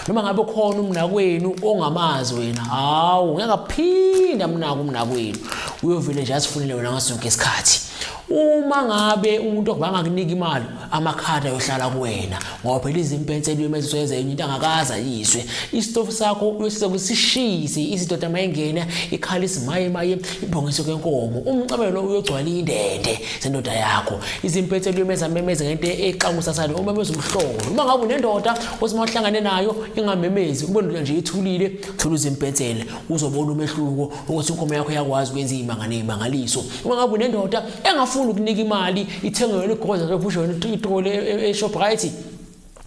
noma ngabe khona umnakwenu ongamazi wena hawu ngeke aphinda mnaka umnakwenu uyovele nje asifunele wena ngaso sonke isikhathi uma ngabe umuntu okubanga kunika imali amakhadi ayohlala kuwena ngoba phela izimpense luyemeziswa yenza enye into angakaza yiswe isitofu sakho uyosiza kusishise izidoda mayengena ikhala isimaye maye ibhongiso kenkomo umcabelo uyogcwala indende sendoda yakho izimpense luyemeza memeze ngento exakusasane uma bezumhlolo uma ngabe unendoda Uthi uma uhlangane nayo ingamemezi kube ndula nje ithulile thola uzimpensele uzobona umehluko ukuthi inkomo yakho yakwazi ukwenza imanga nemangaliso. Uma ngabe unendoda engafuni ukunika imali ithenge yona igoza lokusho yona itole e, e, e Shoprite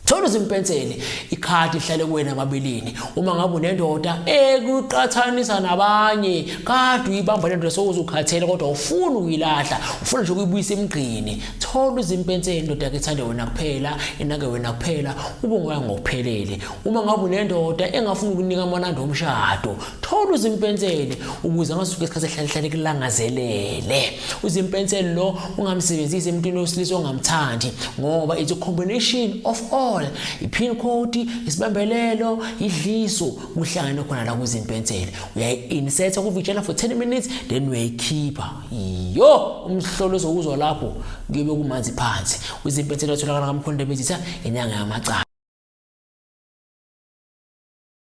Thola uzimpensele ikhadi lihlale kuwena amabeleni uma ngabe unendoda ekuqathanisa nabanye kade uyibamba lento sokuzukhathele kodwa ufuna ukuyilahla ufuna nje ukuyibuyisa emgqini thola izimpenseli indoda ke ithande wena kuphela inake wena kuphela ube ngoya ngokuphelele uma ngabe unendoda engafuni ukunika amanandi omshado thola izimpenseli ukuze angasuke isikhathi ehlalehlale kulangazelele izimpenseli lo ungamsebenzisi emntwini wesilisa ongamthandi ngoba it's a combination of all i-pin code isibambelelo idliso kuhlangane khona la kuzimpenseli uyayi-insetha kuvijana for 10 minutes then uyayikhipha yo umhlolo ozowuzwa lapho kuyobe kumanzi phansi kwizimpethelo atholakala kamkhonde bezitha inyanga yamacala